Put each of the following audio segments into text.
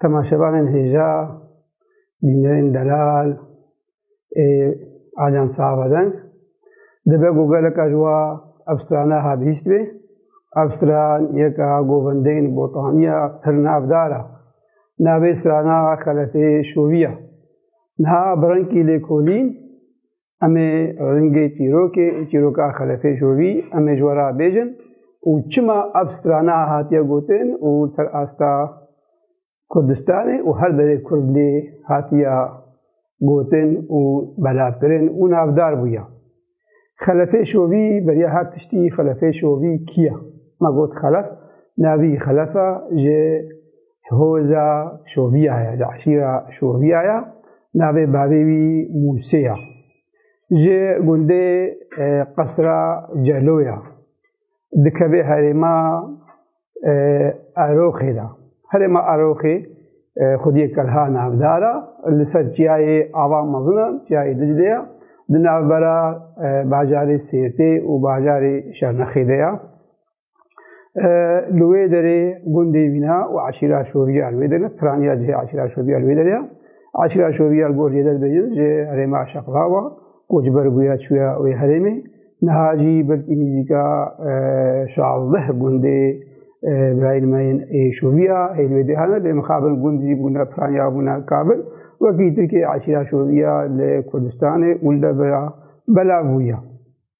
Temaşevanên hêja, bîneyên delal ê aliyan sahabedeng dibe ku geleka ji wa ev strana ha bihîst bê. Ev stran yeka govendeyên botaniya pir navdar e. Navê strana xelefê şoviya. Niha bi rengkî lêkolîn Em ê ringê çîrokê û çîroka Xelefê Jovî em ê ji we re bêjin û çima ev strana hatiye gotin û ser asta Kurdistanê û her derê Kurdlê hatiye gotin û belavkirin û navdar bûye. Xelefê Şovî beriya her tiştî Xelefê Şovî kiye? Me got xelef, navî xelefa ji Hoza Şoviya ye, di eşîra Şoviya ye. Navê bavê wî Mûsê ye. Ji gundê Qesra Celo ye. Dikeve herêma Eroxê de. Herêma Eroxê xwediyê Kelha navdar e. Li ser çiyayê ava mezin e, çiyayê Diclê ye. Di navbera bajarê Sêrtê û bajarê Şernexê de ye. Li wê derê gundê Vîna û eşîra Şoviyal wê derê piraniya cihê eşîra Şoviyal wê derê ya. Eşîra Şoviyal gor Cêdet Bejin ji herêma Şaqlawa koçber bûye çûye wê herêmê. Niha jî belkî nîzîka şazdeh gundê birayên me yên ê Şoviya ê li wê derê hene lê mixabin gund jî bûne piraniya bûne kabil. Wekî Tirkiyê eşîra Şoviya li Kurdistanê û li Debira belav bûye.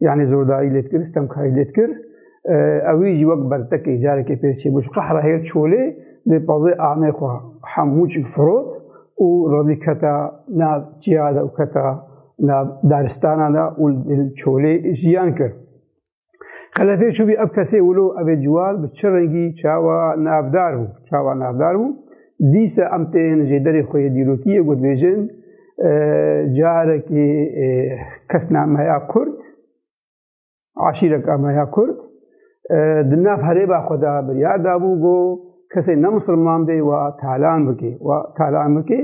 yani zordayî lê dikir, stemkayî lê dikir. Ewî jî wek bertekê carekê pêz çêbû ji qehra hêr çolê lê pazê amê xwe hemû çik firot û revî keta nav çiya de û keta nav daristana de û çolê jiyan kir. Xelefê çûbî ev kesê wilo evê ciwar bi çi rengî çawa navdar bû, çawa navdar bû. Dîsa em tên jêderê xwe yê dîrokiyê gotbêjin carekî kesnameya Kurd aşîreka me ya Kurd di nav herêba xwe de biryar dabû ku kesê ne misilman bê wa talan bikê wa talan bikê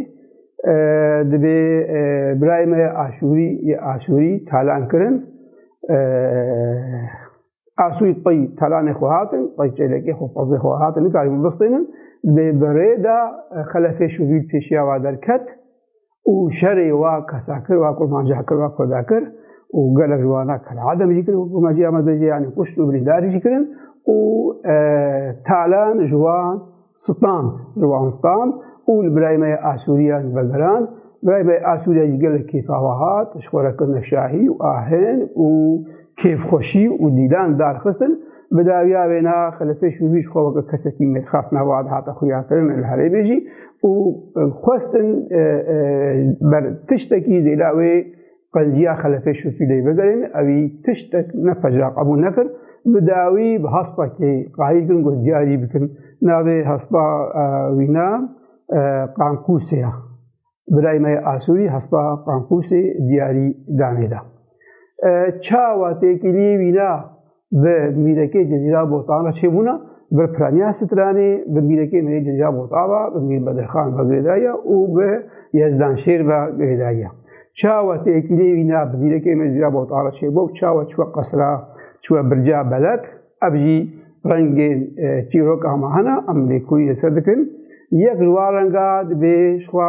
dibê birayê me aşûrî yê aşûrî talan kirin Asûyî qey talanê xwe hatin, qey çêlekê xwe pazê xwe hatin, nikarî min bistênin. Bê berê de xelefê şûvîl pêşiya wa derket û şerê wa kesakir wa kurmancakir wa kurdakir û gelek ji wana kela edem jî kirin kurmacî amedejê yanî kuşt û birîndarî jî kirin û talan ji wan Stand, Ziwan Stand û li birayê me ya Asûriyan vegerand. Birayê me ya Asûriya jî gelek kêf ava hat, ji xwe re kirine şahî û ahin û kêfxweşî û dîlan darxistin. Bi dawiya wê na xwe li pêş û wî xwe weke kesekî mêrxas nava dihate xuyakirin li herêmê jî û xwestin ji ber tiştekî zêla wê Qenciya xelefê Şûfîleyê vegerên ewî tiştek ne pejra qebûl nekir, bi dawî bi haspa kê qayîl kirin ku diyarî bikin. Navê haspa wîna Qanqûsê ya. Birayê me yê Asûrî haspa Qanqûsê diyarî danê da. Çawa têkiliyê wîna bi mîrekê Cezîra Botana çêbûna bi Piraniya Stranê, bi mîrekê Mîrê Cezîra Bota ve, bi Mîr Bedirxan ve girêdaye û bi Yezdanşêr ve girêdaye. Çawa têkîlê wîna bi mîrekê Mîrê Cezîra Botana çêbû, çawa çûye qesra, çûye birca belet, ev jî rengên e, çîroka me hene, em lêkolî li ser dikin. Yek ji wan renga dibê jixwe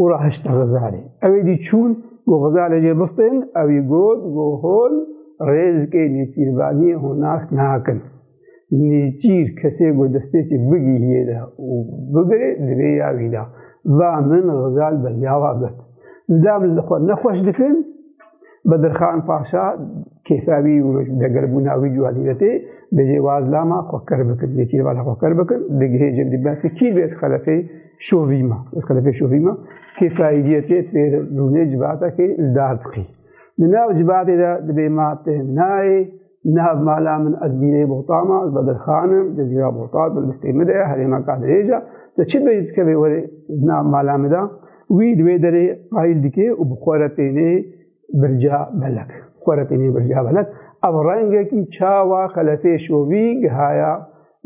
û re hişt Xizarê. Ew ê dî çûn ku Xizarê jê bistên, ew ê got ku hol rêzikê nêçîrvanî hûn nas nakin. Nêçîr kesê ku destpêkê bigihîyê de û bigirê divê ya wî da. Va min Xizar bi yawa got. Zilam li xwe ne xweş dikin. Bedirxan Paşa kêfa wî û degerbûna wî û alîretê bêjê waz lama xwe ker bikin, yekî li bala xwe ker bikin, di gihê cem dî bes kî bêz xelefê şovî ma, bêz xelefê şovî ma, kêfa îdîyetê pêr rûnê civata kê li dar diqî. Di nav civatê de dibê ma tê nayê, Nav mala min ez bîrê bohtama, ez bedirxanim, di jîra bohtat min listê min de, herêma kadrêja, te çi bê dikevê werê nav mala min de, wî di wê derê qayîl dike û bi xwe re tênê birca belek. Xwe re tênê birca belek. Ev rengekî çawa xelefê şovî gihaya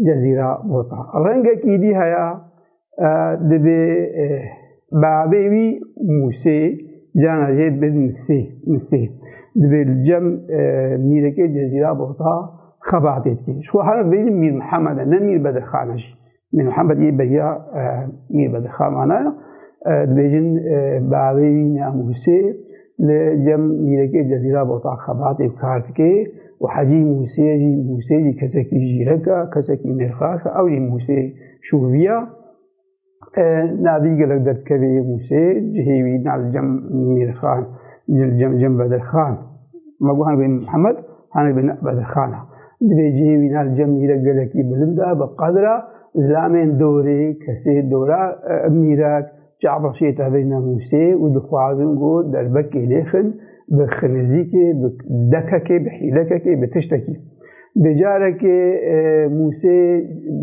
cezîra bota. Rengekî dî heya Di bi bavê wî Musê cana jê bi Misê Misê di bi cem mîrekê Cezîra bota xebatê dikê. Ji xwe her vê Mîr Mihemed e ne Mîr Bedirxan e jî. Mîr Mihemed yê beriya Mîr Bedirxan vana dibêjin bavê wî ne Musê li cem mîrekê Cezîra bota xebatê kar dike û Hecî Mûsê jî Mûsê jî kesekî jîrek e, kesekî mêrxaş e, ew jî Mûsê şûviya. Navî gelek derdikevê Mûsê cihê wî na li cem mêrxan cem cem bedirxan. Me got hanebê Mihemed hanebê bedirxan e. Divê cihê wî na li cem mîrek gelekî bilind e, bi qedra zilamên dorê, kesê dora mîrek, Çavşê tevê nemûsê û dixwazin ku derbekê lêxin bi xilizîkê, bi dekekê, bi hîlekekê, bi tiştekî. Bi carekê Mûsê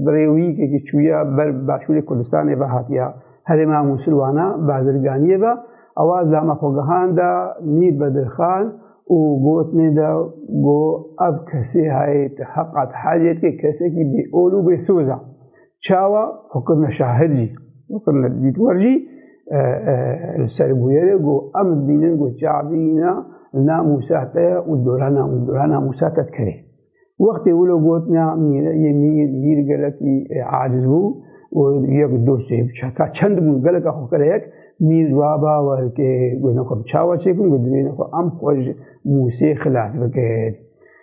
bi rêwîyikekî çûya ber başûrê Kurdistanê ve hatiya herêma Mûsilwana bazirganiyê ve. Ewa zama xwe gihanda Mîr Bedirxan û gotine de ku ev kesê heye ti heqa ti hecê dike, kesekî bêol û bêsoz e. Çawa xwe kirine şahid jî, xwe kirine dîtwer jî li ser bûyerê got em dibînin got Çabî îna li namûsa te ye û dora dora namûsa te dikerê. Wextê wilo got na yê mîr mîr gelekî aciz bû û yek dosê bi çeka çend bûn geleka xwe kire yek mîr wa bawer kê got ne xwe bi çawa çêkim got divê ne xwe em xwe ji mûsê xilas bikin.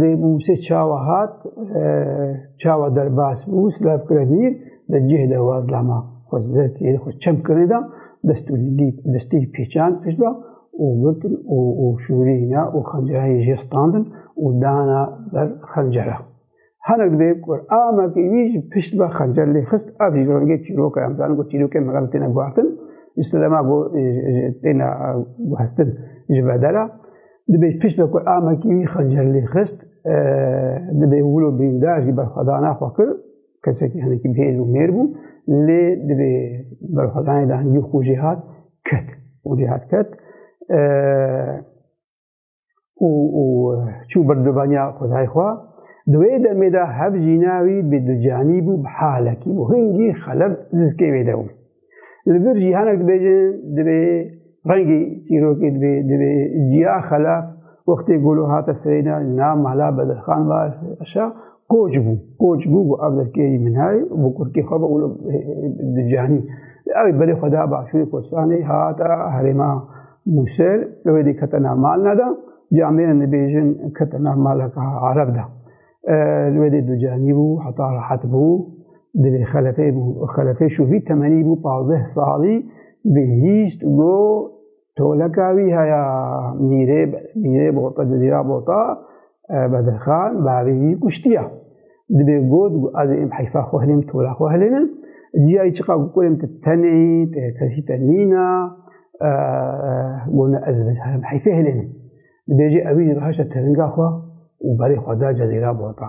Di Mûsê çawa hat, çawa derbas bû, silav kire bîr, di cih de waz lama xwe zerkê xwe çem kirine da, dest û destê pêçan pişt da û girtin û şûrîna û xencereyê jê standin û dana ber xencera. Hinek dê ku amekî wî ji pişt ve xencer lê xist ev jî ji rengê çîroka em zanin ku çîrokên me têne guhertin ji sedema ku têne guhestin ji bedera dibê ji pişt ve ku amekî wî xencer lê xist dibê wilo birîndar jî berxwedana xwe kir kesekî hinekî bihêz û mêr bû lê dibê berxwedanê de hingî xwe jê hat ket û jê hat ket û û çû bir dubaniya xudayê xwe. Di wê demê de hev jîna wî bi ducanî bû bi halekî bû. Hingî xeleb dizkê wê de bû. Li vir cîhanek dibêjin divê rengî çîrokê divê divê ciya xelab wextê golo hate serêna na mala bedirxan var aşa Koç bû, koç bû ku ev derkêrî min heye û bi kurkê xwe bi di canî. Ew ê berê xwe da Başûrê Kurdistanê hata herêma Mûsil, ew ê dê kete nav malna de, cî em bêne nibêjin kete nav maleka Ereb de. Li wê dê ducanî bû, heta rehet bû, divê xelefê bû. Xelefê şû vî temenî bû pazdeh salî bê hîst got Toleka wî heya mîrê mîrê bota cizîra bota Bedirxan bavê wî kuştiya. Dibê got û ez êm heyfa xwe hilêm tola xwe hilênin. Ciyayî çiqa ku kurêm tu tenê yî, tu kesî te nîna, gona ez bizherim heyfê hilênin. Dibêjê ewî jî rihişte teringa xwe û berê xwe da cizîra bota.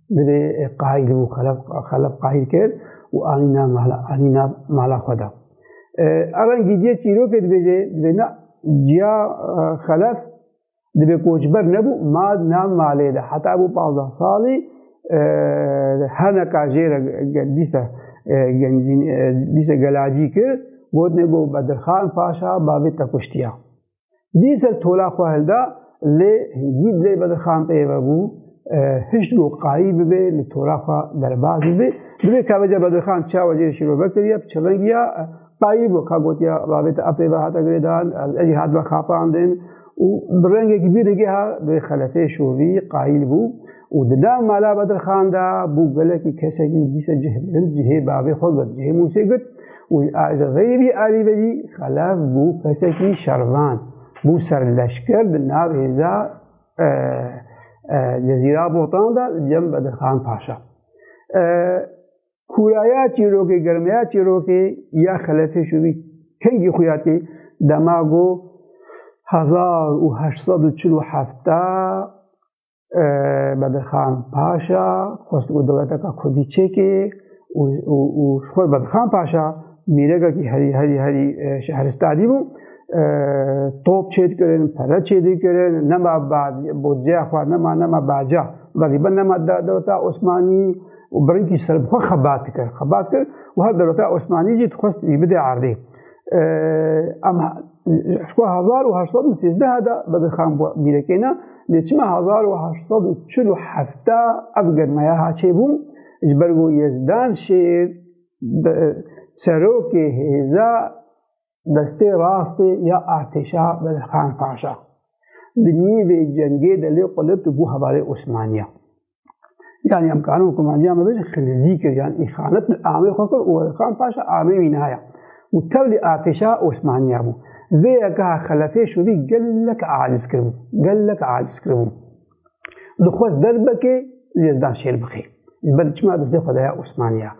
Divê qahil û xelef qahil kir û anîna mala anîna mala xwe da. Eran gîdiye çîrokê dibêje divê na ciya xelef divê koçber nebû ma na malê de heta bû panzdeh salî heneka jê re dîsa gencîn dîsa gelacî kir gotine got Bedirxan Paşa bavê te kuştiya. Dîsel tola xwe hilda lê hingîd lê bedirxan pê ve bû hişt go qayî bibe li tola xwe derbaz bibe. Divê kaveca bedirxan çawa jê şîro vekiriye bi çevengiya qayî bû ka gotiya ravêta apê ve hata girêdan ejî hat ve xapandin û bi rengekî bî rigê ha divê xelefê şorî qayîl bû û di nav mala bedirxan da bû gelekî kesekî dîsa cih bilind cihê bavê xwe girt cihê Musê girt Wî li xêrî alî vedî xelef bû kesekî şervan, bû serleşker di nav hêza Cezîra Botan de li cem Bedirxan Paşa. Kûraya çîrokê, germeya çîrokê ya xelefê şûbî kengî xuya tê dema got 1847 Bedirxan Paşa xwest û dewleteka Kurdî çêkê û xwe Bedirxan Paşa mîrekekî herî herî herî şehristadî bû. Top çêdikirin, pere çêdikirin, nema bodceya xwe nema nema baca galiba nema dewleta Osmanî û birinkî ser bi xwe xebat dikir. Xebat kir û her dewleta Osmanî jî dixwest wî bide erdê. Em Xwe hezar û heşt sed û sêzdeh de bedirxan bû bîrekêne lê çima hezar û heşt sed û çil û hefte ev germeya haçê bû ji ber ku Yezdan Şêr serokê hêza destê rastê ya artêşa Bedirxan Paşa di nîvê cengê de lê qulit bû hevalê Osmaniya. Yani em kanun kumandiya me bêje xilizî kir yan îxanet li amê xwe kir û Xan Paşa amê wî naya û tevlî atêşa Osmaniya bû. Vê yeka xelefê şûbî gelek aciz kiribû, gelek aciz kiribû. Dixwest derbekê lê dan şêr bixê. Ji ber çima destê xwe daya Osmaniya.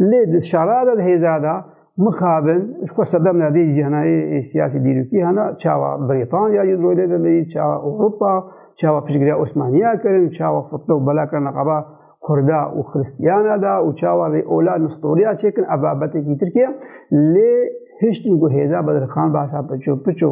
Lê di şara de hêza da mixabin ji ku sedem nedê ji henayê siyasî dîrokî hena çawa Brîtanya ji rolê de leyî çawa Ewropa çawa piştgiriya Osmaniya kirin çawa fitne û bela kirina qaba Kurda û Xristiyana da û çawa vê ola nistoriya çêkin ev babetekî Tirkiye lê hiştin ku hêza bedirxan başa piço piço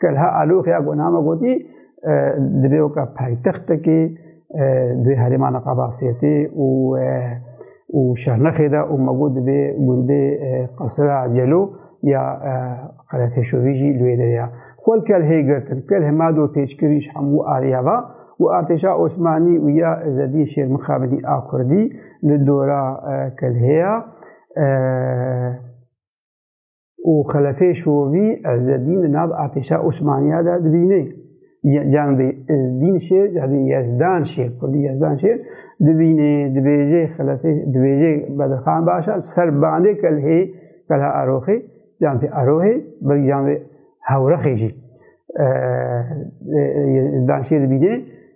Kelha Alûx ya Gonama gotî divê weka paytextekê dê herêma Neqabasiyetê û û Şernexê de û me got divê gundê Qesira Celo ya Qereteşovî jî li wê derê ya. Xwel Kelhê girtin, Kelh ma do têçkirî ji hemû ariya va û artêşa Osmanî û ya Îzzedîn Şêrmixabinî a Kurdî li dora Kelhê ya. û xelefê şovî Ezzedîn di nav artêşa Osmaniya de dibîne. Can bê Ezdîn şêr, can bê Yezdan şêr, kurdî Yezdan şêr dibîne, dibêje xelefê, dibêje Bedirxan Başa ser bandê kelhê kelha Aroxê, can bê Arohê, bir can bê Hewrexê jî. Yezdan şêr dibîne,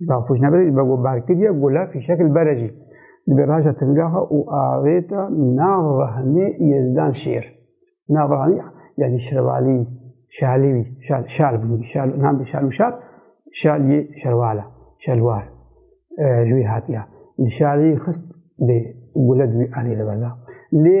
Rafûjnebirê li bego berkiriye gule fîşek li bere jî. Li bê raja timgaha û avêta nav rehanê Yezdan Şêr. Nav rehanê yani şervalî, şalî, şal, şal bûn, şal, nam bi şal û şal, şal yê şerwala, şelwar, ji wî hatiya. Li şalî xist bê gule di wî anê li berda. Lê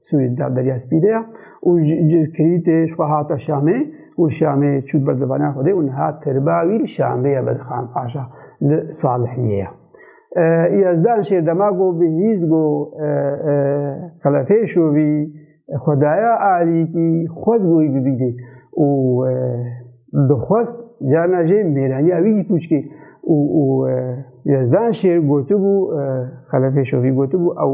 Sûriyê da Derya Spî de ya û kirîtê ji xwe hata Şamê û li Şamê çû ber di vana xwe de û niha tirba wî li Şamê ye Bedixan Paşa li Salihiyê ye. Yezdan şêr dema go bi hîz go qelefê şovî xwedaya alîkî xwez goyî bibîdê û dixwest cana jê mêraniya wî dî pûçkê û û Yezdan şêr gotibû qelefê şovî gotibû ew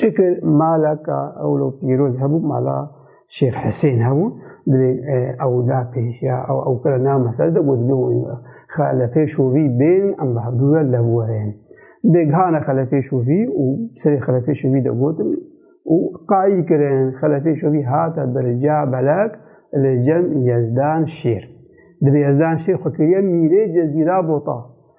Çekir malaka ewlo pîroz hebû mala Şêx Hesên hebû divê ew da pêş ya ew ew kira nav mesele de got divê wan xelefê şovî bên em bi hevdû ve lev werin. Divê gihana xelefê şovî û serê xelefê şovî de gotin û qayîl kirin xelefê şovî hate birca belek li cem Yezdan Şêr. Divê Yezdan Şêr xwe kiriye mîrê Cezîra Bota.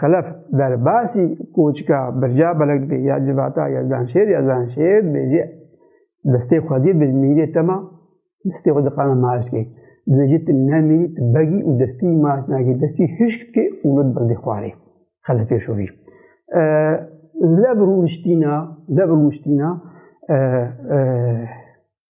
Xelef derbasî koçika birca belek dibê ya civata ya zanşêr ya zanşêr dibê jî destê xwedî bi mîrê tema destê xwe diqana maaş dikê. Dibê jî tu nemîrî tu begî û destî maaş nakî destî hişk dikê û li bildê xwarê xelefê şovî. Lev rûniştîna lev rûniştîna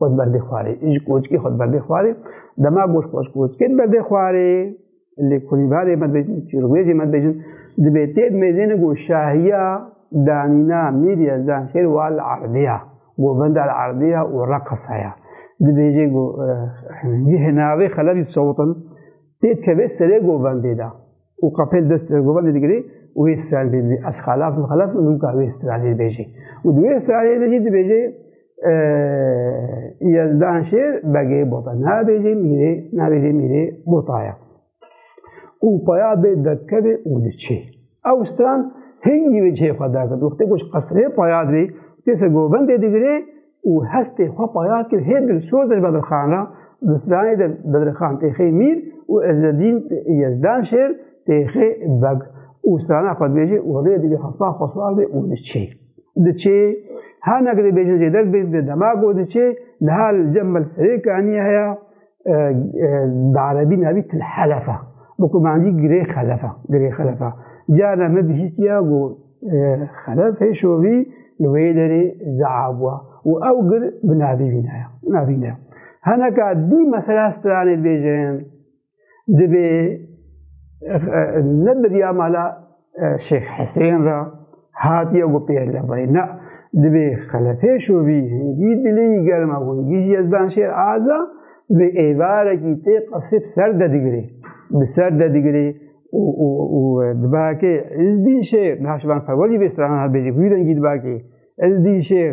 Xwed berdê xwarê. Ji koçkê xwed berdê xwarê. Dema goş xwed koçkê berdê xwarê. Lê kurîvarê me dibêjin, çîrûbêjê me dibêjin. Dibê tê mêzêne ku şahiya danîna mîr yezdan şêr wa li erdiya. Govenda li erdiya û reqesaya. Dibêjê ku ji hinavê xelevî sewtin tê tevê serê govendê de. û qapel dest Erdoganê digirê û wê stralê dibê. Ez xelaf im xelaf im nûka wê stralê dibêjê. Û di wê stralê de jî dibêjê Yezdan şêr begê bota. Nabêjê mîrê, nabêjê mîrê botaya. Û paya bê derkevê û diçê. Ew stran hingî wê cihê xwe derket. Wextê ku ji qesrê paya dibê, tê ser govendê digirê, û hestê xwe paya kir hê dilsoz in ji Bedirxan re, di stranê de Bedirxan têxê Mîr û Ezzedîn Yezdan Şêr têxê Beg û strana xwe dibêje û rê divê hespa xwe siwar bê û diçê. Diçê, her ne ku dibêjin jê derbê, di dema ku diçê, niha li cem mel serê kanî heya, bi erebî navî til helefa bi ku mancî girê xelefa girê xelefa cara me bihîstiya ku xelef hê şovî li wê derê zaa bûa û ew gir bi navî vînaya navî ne heneka dî mesela stranê bêjin dibê ne birya mala Şêx Hesên ra hatiye got pêhlevayî na divê xelefê şovî hingî dilê yî germa hingî jî Yezdan Şêr Aza divê êvarekî tê qesrê bi ser de digirê. Bi ser de digirê û dibakê Îzdîn Şêr niha şivan perwerî vê strana bêjî hûyî rengî dibakê Îzdîn Şêr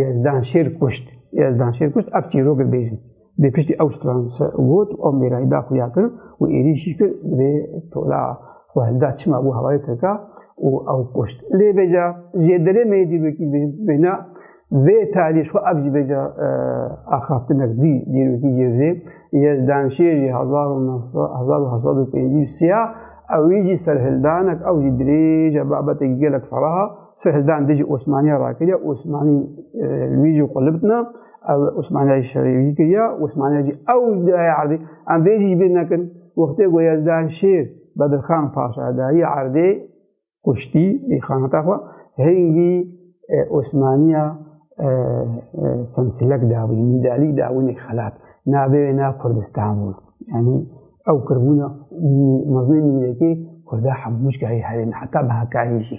Yezdanşêr kuşt. Yezdanşêr kuşt ev çîrok bêjin. Bê piştî ew stran se got û mêrayî da xuya kirin û êrîşî kir vê tola xwe hilda çima bû hewayê Tirka û ew kuşt. Lê bêca jê derê me yê dîrokî bêna vê talî xwe ev jî bêca axaftinek dî dîrokî jê vê Yezdanşêr jî hezar û hezar û hezar û pêncî siya ew jî serhildanek ew jî dirêj e babeteke gelek feraha Sê hildan dê jî Osmaniya rakiriya, Osmanî wî jî xwe libitna, ew Osmaniya jî şerê wî kiriya, Osmaniya jî ew ji dayê erdê. Em vê jî ji bîr nekin, wextê ku Yezdan Şêr Bedirxan Paşa dayî erdê kuştî ê xanata xwe, hingî Osmaniya semsilek dawî, mîdalî dawînê xelat. Navê wê na Kurdistan bû. Yanî ew kirbûna mezlê mîrekê Kurda hemû cihê herêmê heta bi hekayî jî.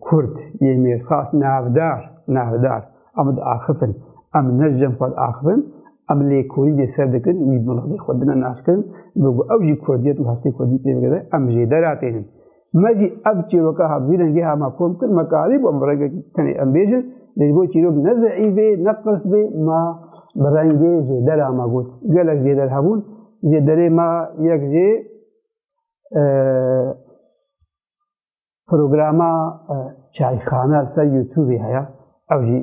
Kurd yê mêrxas navdar navdar em diaxifin em ne ji cem xwe diaxifin em lêkolî dê ser dikin wî miladê xwe dine naskirin bi ku ew jî kurdiyet û hestê kurdî pê bigire em jê deratênin me jî ev çîroka hat vî rengê hema kom kir me karî bûm bi rengek tenê em bêjin lê ji bo çîrok ne zeî bê ne qirs bê ma bi rengê jê dera me got gelek jê der hebûn jê derê me yek jê Programa çayxana li ser YouTubeê heye ew jî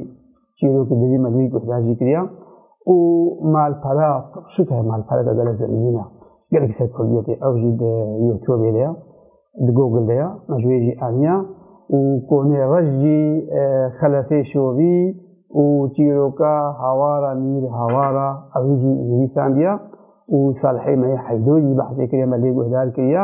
çîrokî dijî me wî guhdar jî kiriya û malpera şik heye malpera de gele zemînîna gelek ser Kurdiyê tê ew jî di YouTubeê de ya di Google de ya me ji wê jî aniya û konê rej jî xelefê şovî û çîroka hawara mîr hawara ew jî nivîsandiya û salihê me yê heydû jî behsê kiriye me lê guhdar kiriya